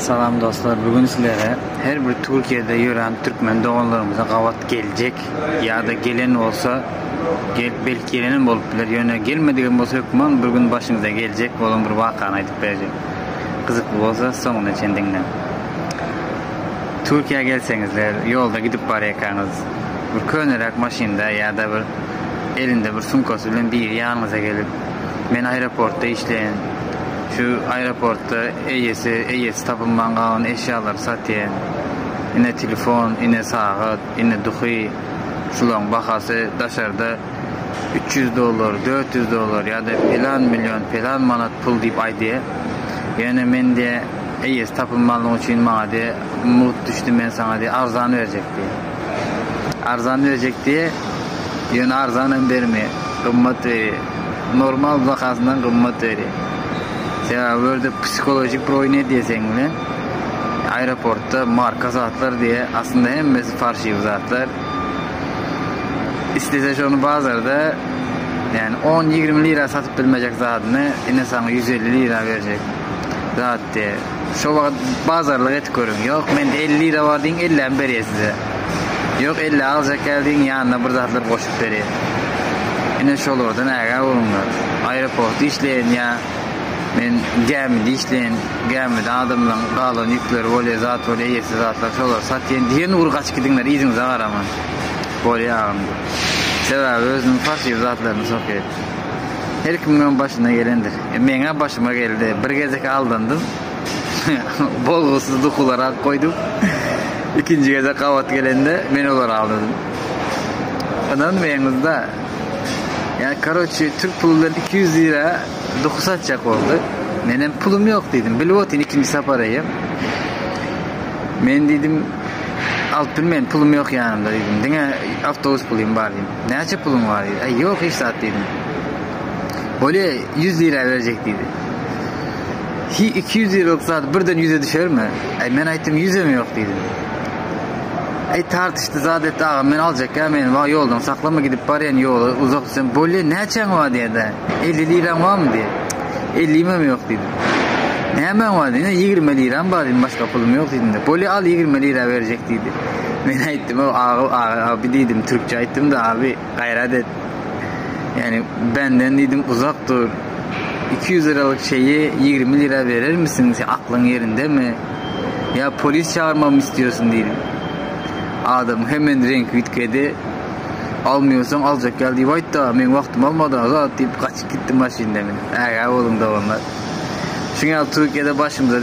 Salam dostlar, bu gün sizlere her bir Türkiýede ýören türkmen doganlarymyza gabat geljek ýa-da gelen bolsa, gelip belki gelenem bolup biler, ýöne gelmedigem bolsa hökman bir gün başyňyza geljek bolan bir wakany aýdyp berjek. Gyzykly bolsa soňuna çen diňleň. Türkiýä gelseňizler, ýolda gidip barýarkaňyz, bir köneräk maşynda ýa-da bir elinde bir sumkasy bilen biri ýanyňyza gelip, Men aeroportda işleýän. Şu aeroportda eýesi, eýesi tapylman galan eşýalary satýan. Ine telefon, ine sagat, ine duhy. Şularyň bahasy daşarda üç ýüz dollar, dört ýüz dollar ýa-da pelan million, pelan manat pul diýip aýdýa. Ýöne men diýä, eýesi tapylmanlygy üçin maňa diýä, mugt düşdi, men saňa diýä arzan berjek diýä. Arzan berjek diýe, ýöne arzan hem bermeýär. Gymmat berýär. Normal bahasyndan gymmat berýär. Sebäbi bu ýerde psihologik bir oýun edýär seň bilen. Aeroportda marka zatlar diýe, aslynda hemmesi parşiw zatlar. Islese şony bazarda ýani on, ýigrimi lira satyp bilmejek zadyny ine saňa ýüz elli lira berjek zat diýe. Şo wagt bazarlyk edip görüň. Ýok, mende elli lira bar diýiň, ellämi berýär size. Ýok, elli aljak ekän diýiň, ýanyna bir zatlar goşup berýär. Ine, şolardan ägä boluňlar. Aeroportda işleýän ýa men gämide işleýän, gämide adamlaryň galan ýükleri bolýar, zat bolýar, eýesi zatlar, şolary satýan diýen ugur gaçyp gidiňler, yzyňyza garaman. Bolýar agam diýip. Sebäbi özüniň parşyr zatlaryny sokýar. Her kimiň hem başyna gelendir. Meň-ä başyma geldi. Bir gezek aldandym. Bolgusyz dukular alyp goýdum. Ikinji gezek gabat gelende, men olary aldadym. Ynanmaýaňyz-da. Ýa, karoçi, türk puly bilen iki ýüz lira duku satjak boldy. Menem pulum ýok diýdim. Bilip otyryn, ikinji sapar eýýäm. Men diýdim, alyp bilmen, pulum ýok ýanymda diýdim. Diňe awtobus pulym bar diýdim. Näçe puluň bar? diýdi. Äý, ýok hiç zat diýdim. Bolýa, ýüz lira berjek diýdi. Hi, iki ýüz liralyk zat birden ýüze düşermi? Äý, men aýtdym, ýüzem ýok diýdim. Äý, tartyşdy, zat etdi, agam, men aljak, ýa meni wah ýoldan saklama, gidip barýan ýola uzak düşsem, bolýa, näçäň bar diýer-dä, elli liraň barmy diýdi. Ellimem ýok diýdim. Nämäň bar diýdi, ýigrimi liram bar diýdim, başga pulum ýok diýdim-de. Bolýa, al, ýigrimi lira berjek diýdi. Men aýtdym, Aga, abi diýdim, türkçe aýtdym-da, abi, gaýrat et. Ýani, benden diýdim, uzak dur. Iki ýüz liralyk şeýi ýigrimi lira berermisiň, seň aklyň ýerindemi? Ýa polis çagyrmagymy isleýärsiň diýdim. Adamyň hemen reňki üýtgedi. Almaýarsaň aljak gel diýip aýt-da, meň wagtym alma-da, zat diýip, gaçyp gitdi maşynynda münüp. Ägä boluň doganlar. Şuňa ýaly Türkiýede başymyza.